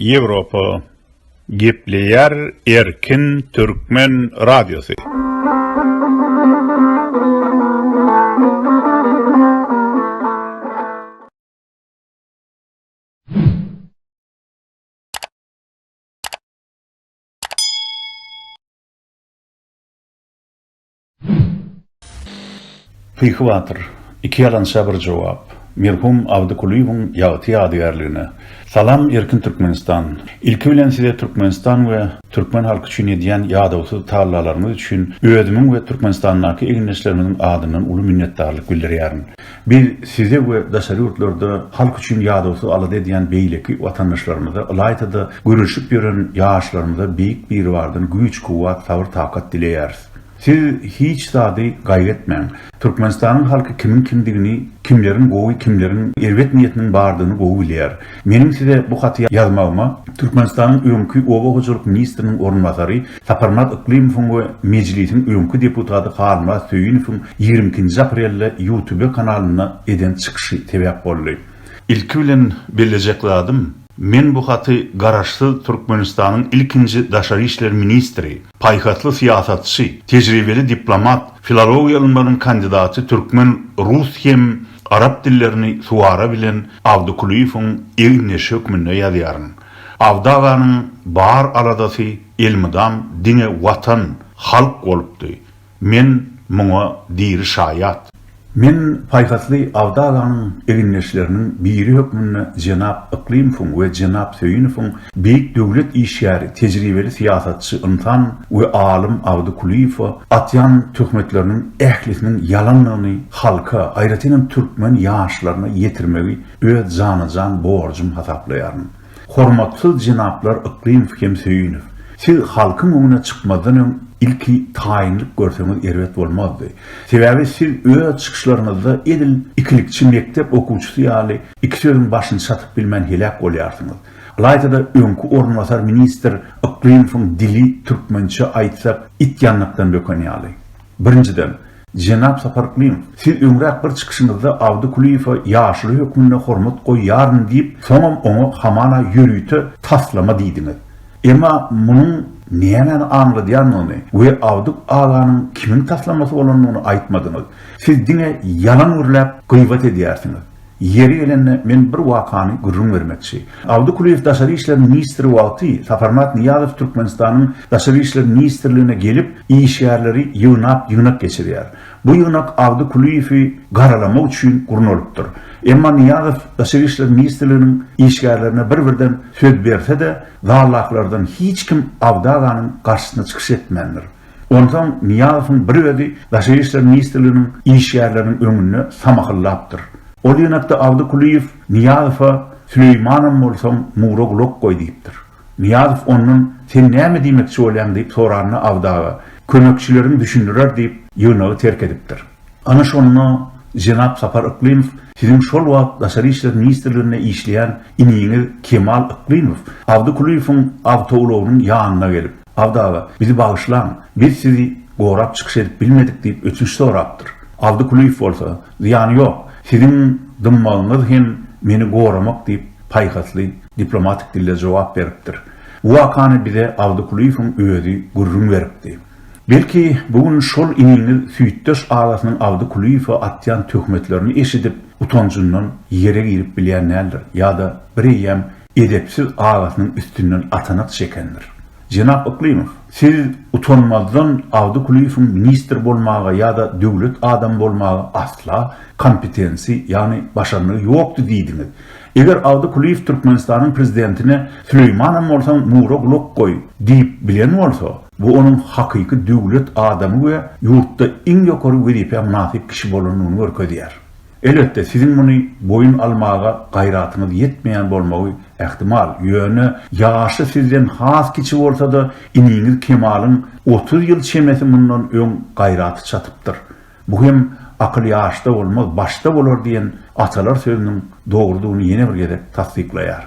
Ýewropa gepleýär erkin türkmen radiosy. Pyhy batyr, iki ýalança bir jogap, merhum Abdy Kulyýewiň ýagty ýadygärligine. Salam Erkin Türkmenistan. Ilki bilen size Türkmenistan we Türkmen halky üçin edýän ýadawsyz tallalaryňyz üçin özümiň we Türkmenistandaky egindeşlerimiziň adyndan uly minnetdarlyk bildirýärin. Biz size we daşary ýurtlarda halk üçin ýadawsyz alada edýän beýleki watandaşlarymyza, ylaýta-da, göreşip ýören ýaşlarymyza Beýik Biribardan güýç-kuwwat, sabyr-takat dileýäris. Siz hiç zady gaýgy etmäň. Türkmenistanyň halky kimiň kimdigini, kimleriň gowy, kimleriň erbet niýetiniň bardygyny gowy bilýär. Meniň size bu haty ýazmagyma Türkmenistanyň öňki oba hojalyk ministriniň orunbasary Saparmyrat Yklymowyň we Mejlisiň öňki deputaty Halmyrat Söýünowyň ýigrimi ikinji aprelde Ýutube kanalynda eden çykyşy sebäp boldy. Ilki bilen bellejek zadym, men bu haty Garaşsyz Türkmenistanyň ilkinji daşary işler ministri, paýhasly syýasatçy, tejribeli diplomat, filologiýa ylmlarynyň kandidaty türkmen, rus hem Arap dillerini suwara bilen Abdy Kulyýewiň egin-eşi hökmünde ýazýaryn. Abdy aganyň bar aladasy elmydam diňe Watan, halk bolupdy. Men muňa diri şaýat. Men paýhasly Abdy aganyň egindeşleriniň biri hökmünde jenap Yklymowyň we jenap Söýünowyň Beýik döwlet işgäri, tejribeli syýasatçy ynsan we alym Abdy Kulyýewe atýan töhmetleriniň ählisiniň ýalandygyny halka, aýratynam türkmen ýaşlaryna ýetirmegi öz jana-jan borjum hasaplaýaryn. Hormatsyz jenaplar Yklymow hem Söýünow! Siz halkyň öňüne çykmazdan öň ilki taýynlyk görseňiz erbet bolmazdy. Sebäbi siz öz çykyşlaryňyzda edil ikilikçi mekdep okuwçysy ýaly iki sözüň başyny çatyp bilmän heläk bolýarsyňyz. Ylaýta-da öňki orunbasar ministr Yklymowyň dili, türkmençe aýtsak, it ýanlykdan böken ýaly. Birinjiden, jenap Sapar Yklymow, siz öňräk bir çykyşyňyzda Abdy Kulyýewe ýaşuly hökmünde hormat goýýaryn diýip, soňam oňa hamana ýörite taslama diýdiňiz. Emma munuň nämäni aňladýandygyny we Abdy aganyň kimiň taslamasy bolandygyny aýtmadyňyz. Siz diňe ýalan gürläp, gybat edýärsiňiz. Ýeri gelende men bir wakany gürrüň bermekçi. Abdy Kulyýew daşary işler ministri wagty Saparmyrat Nyýazow Türkmenistanyň Daşary işler ministrligine gelip, işgärleri ýygnap ýygnak geçirýär. Bu ýygnak Abdy Kulyýewi garalamak üçin gurnalypdyr. Emma Nyýazow Daşary işler ministrliginiň işgärlerine bir-birden söz berse-de, zaldakylardan hiç kim Abdy aganyň garşysyna çykyş etmändir. Onsoň Nyýazowyň bir özi Daşary işler ministrliginiň işgärleriniň öňünde samahyllapdyr. Ol ýanakda Abdy Kulyýew Nyýazowa Süleýmanam bolsaň, mura gulak goý diýipdir. Nyýazow ondan Sen näme diýmekçi bolýaň diýip soranda Abdy aga, Kömekçileriň düşündirer diýip, ýygnagy terk edipdir. Ana şonda jenap Sapar Yklymow siziň şol wagt Daşary işler ministrliginde işleýän iniňiz Kemal Yklymow Abdy Kulyýewiň awtoulagynyň ýanyna gelip, Abdy aga, bizi bagyşlaň, biz sizi gorap çykyş edip bilmedik diýip ötünç sorapdyr. Abdy Kulyýew bolsa, Zyýany ýok, siziň dymmagyňyz hem meni goramak diýip, paýhasly, diplomatik dilde jogap beripdir. Bu wakany bize Abdy Kulyýewiň özi gürrüň beripdi. Belki, bu gün şol iniňiz süýtdeş agasynyň Abdy Kulyýewe atýan töhmetlerini eşidip, utanjyndan ýere girip bilýän däldir ýa-da bireýýäm edepsiz agasynyň üstünden atanak çekendir. Jenap Yklymow, siz utanmazdan Abdy Kulyýewiň ministr bolmaga ýa-da döwlet adamy bolmaga asla kompetensi, ýagny başarnygy ýokdy diýdiňiz. Eger Abdy Kulyýew Türkmenistanyň prezidentine Süleýmanam bolsaň mura gulak goý diýip bilen bolsa, bu onuň hakyky döwlet adamy we ýurtda iň ýokary wezipä mynasyp kişi bolandygyny görkezýär. Elbetde, siziň muny boýun almaga gaýratyňyz ýetmeýän bolmagy ähtimal, ýöne ýaşy sizden has kiçi bolsa-da, iniňiz Kemalyň otuz ýyl çemesi mundan öň gaýraty çatypdyr. Bu hem Akyl ýaşda bolmaz, başda bolar diýen atalar sözüniň dogrudygyny ýene bir gezek tassyklaýar.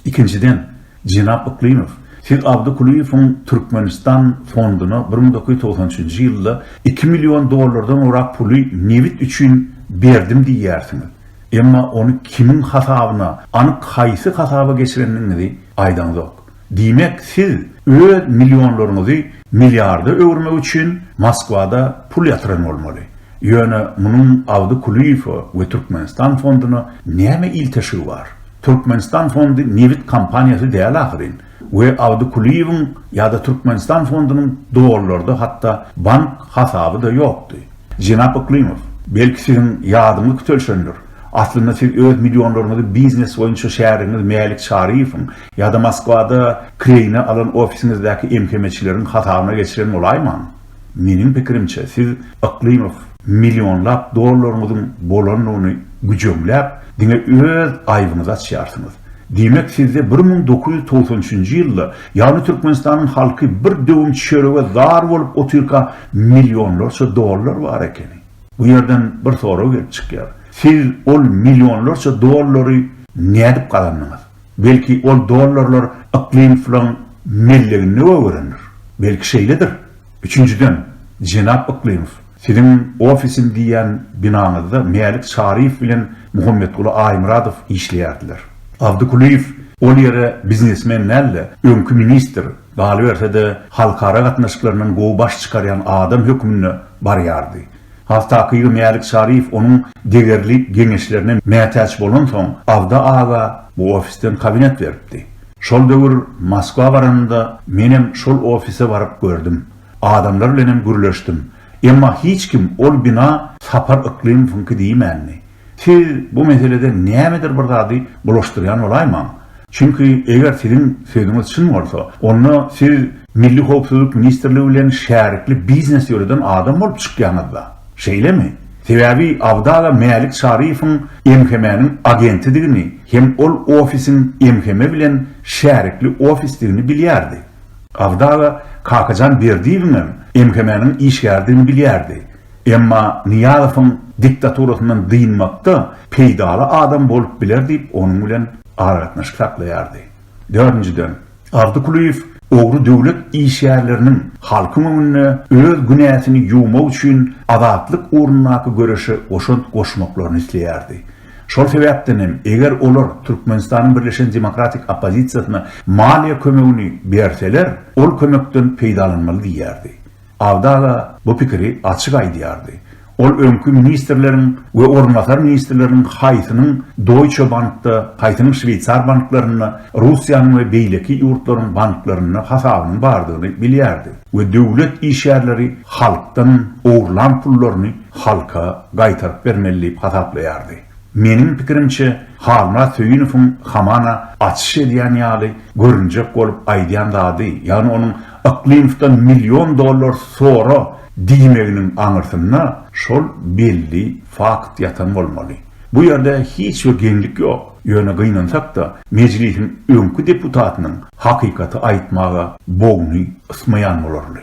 Ikinjiden, Jenap Yklymow, siz Abdy Kulyýewiň Türkmenistan fonduna bir müň dokuz ýüz togsan üçünji ýylda iki million dollardan gowrak puly nebit üçin berdim diýýärsiňiz. Emma ony kimiň hasabyna, anyk haýsy hasaba geçirendigiňizi aýdaňzok. Diýmek, siz öz millionlaryňyzy milliarda öwürmek üçin Moskwada pul ýatyran bolmaly. Ýöne munuň Abdy Kulyýewe we Türkmenistan fonduna näme ilteşigi bar? Türkmenistan fondy nebit kompaniýasy däl ahyryn we Abdy Kulyýewiň ýa-da Türkmenistan fondunyň dollarda hatda bank hasaby-da ýokdy. Jenap Yklymow, belki siziň ýadyňyz kütelşendir, aslynda siz öz millionlaryňyzy biznes boýunça şärigiňiz Mälik Çaryýewiň ýa-da Moskwada kireýine alan ofisiňizdäki emhemeçileriň hasabyna geçiren bolaýmaň? Meniň pikirimçe, siz Yklymow millionlap dollaryňyzyň bolandygyny güjeňläp, diňe öz aýbyňyzy açýarsyňyz. Diýmek, sizde bir müň dokuz ýüz togsan üçünji ýylda, ýagny Türkmenistanyň halky bir döwüm çörege zar bolup otyrka millionlarça dollar bar ekeni. Bu ýerden bir sorag gelip çykýar. Siz ol millionlarça dollary nädip gazandyňyz? Belki ol dollarlar Yklymowyň melleginde öwrenir. Belki şeýledir. Üçünjiden, jenap Yklymow, siziň ofisim diýýän binaňyzda Mälik Çaryýew bilen Muhammetguly Aýmyradow işleýärdiler. Abdy Kulyýew ol ýere biznesmen däl-de, öňki ministr, galyberse-de, halkara gatnaşyklaryndan gowy baş çykarýan adam hökmünde barýardy. Has takygy Mälik Çaryýew onuň degerli geňeşlerine mätäç bolansoň, Abdy aga bu ofisden kabinet beripdi. Şol döwür Moskwa baranymda menem şol ofise baryp gördüm. Adamlar bilenem gürleşdim. Emma hiç kim ol bina Sapar Yklymowyňky diýmändi. Siz bu meselede nämedir bir zady bulaşdyrýan bolaýmaň. Çünki eger siziň sözüňiz çyn bolsa, onda siz Milli howpsuzlyk ministrligi bilen şärikli biznes ýöreden adam bolup çykýaňyz-da. Şeýlemi? Sebäbi Abdala Mälik Çaryýewiň MHM-niň agentidigini hem ol ofisiň MHM bilen şärikli ofisdigini bilýärdi. Abdala Kakajan Berdiýewiňem MHM-niň işgäridigini bilýärdi. Emma Nyýazowyň diktaturasyndan dynmakda peýdaly adam bolup biler diýip, onuň bilen aragatnaşyk saklaýardy. Dördünjiden, Abdy Kulyýew ogry döwlet işgärleriniň halkyň öňünde öz günäsini ýuwmak üçin azatlyk ugrundaky göreşe goşant goşmaklaryny isleýärdi. Şol sebäpden hem, eger olar Türkmenistanyň birleşen demokratik oppozisiýasyna maliýe kömegini berseler, ol kömekden peýdalanmaly diýýärdi. Abdala bu pikiri açyk aýdýardy. Ol öňki ministrleriň we orunbasar ministrleriň haýsynyň Doýçe bankda, haýsynyň şweýsar banklarynda, Russiýanyň we beýleki ýurtlaryň banklarynda hasabynyň bardygyny bilýärdi we döwlet işgärleri halkdan ogurlan pullaryny halka gaýtaryp bermeli diýip hasaplaýardy. Meniň pikirimçe, Halmyrat Söýünowyň hamana açyş edýän ýaly görünjek bolup aýdýan zady, ýagny onuň Yklymowdan million dollar sora diýmeginiň aňyrsynda şol belli fakt ýatan bolmaly. Bu ýerde hiç bir geňlik ýok. Ýöne gynansak-da, Mejlisiň öňki deputatynyň hakykaty aýtmaga bogny ysmaýan bolarly.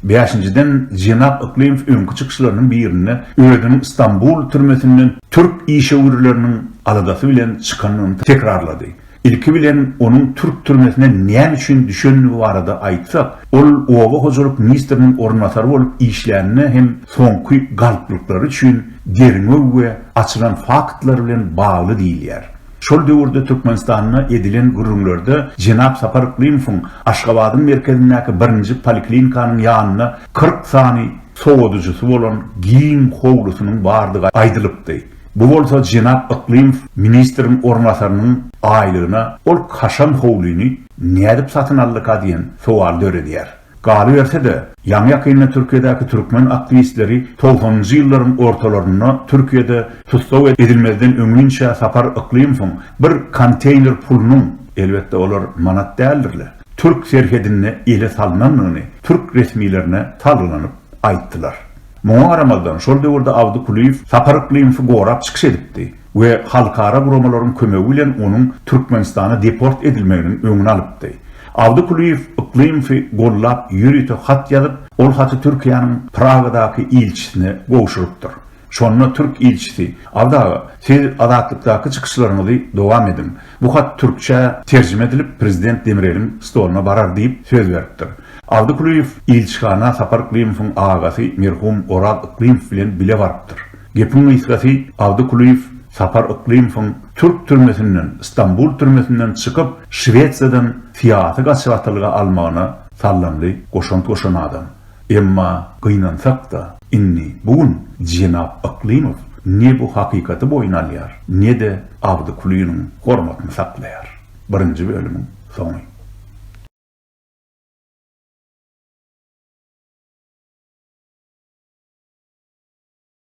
Bäşinjiden, jenap Yklymow öňki çykyşlarynyň birinde özüniň Stambul türmesinden türk işewürleriniň aladasy bilen çykandygyny tekrarlady. Ilki bilen onuň türk türmesine näme üçin düşendigi barada aýtsak, ol oba hojalyk ministriniň orunbasary bolup işlänine hem soňky galplyklary üçin derňew we açylan faktlar bilen bagly diýilýär. Şol döwürde Türkmenistanda edilen gürrüňlerde jenap Sapar Yklymowyň Aşgabadyň merkezindäki birinji poliklinikanyň ýanynda kyrk sany sowadyjysy bolan giň howlusynyň bardygy aýdylypdy. Bu bolsa jenap Yklymow ministriň orunbasarynyň aýlygyna ol kaşaň howlyny nädip satyn aldyka diýen sowal döredýär. Galyberse-de, ýaňy-ýakynda Türkiýedäki türkmen aktiwistleri togsanynjy ýyllaryň ortalarynda Türkiýede tussag edilmezden öňinçä Sapar Yklymowyň bir konteýner pulunyň, elbetde olar manat däldirle, türk serhedinde ele salnandygyny türk resmilerine salgylanyp aýtdylar. Muňa garamazdan, şol döwürde Abdy Kulyýew Sapar Yklymowy gorap çykyş edipdi we halkara guramalaryň kömegi bilen onuň Türkmenistana deport edilmeginiň öňüni alypdy. Abdy Kulyýew Yklymowy gollap ýörite hat ýazyp, ol haty Türkiýäniň Pragadaky ilçisine gowşurypdyr. Şonda türk ilçisi, Abdy aga, siz Azatlykdaky çykyşlaryňyzy dowam ediň. Bu hat türkçä terjime edilip, prezident Demireliň stoluna barar diýip söz beripdir. Aldy Kulyýew ilçihana Sapar Yklymowyň agasy merhum Oraz Yklymow bilen bile barypdyr. Gepiň gysgasy, Aldy Kulyýew Sapar Yklymowyň türk türmesinden, Stambul türmesinden çykyp, Şwesiýadan syýasy gaçybatlyga almagyna sallanly goşant goşan adam. Emma gynansak-da, indi bu gün jenap Yklymow ne bu hakykaty boýun alýar, ne-de Abdy Kulynyň hormatyny saklaýar. Birinji bölümiň soňy.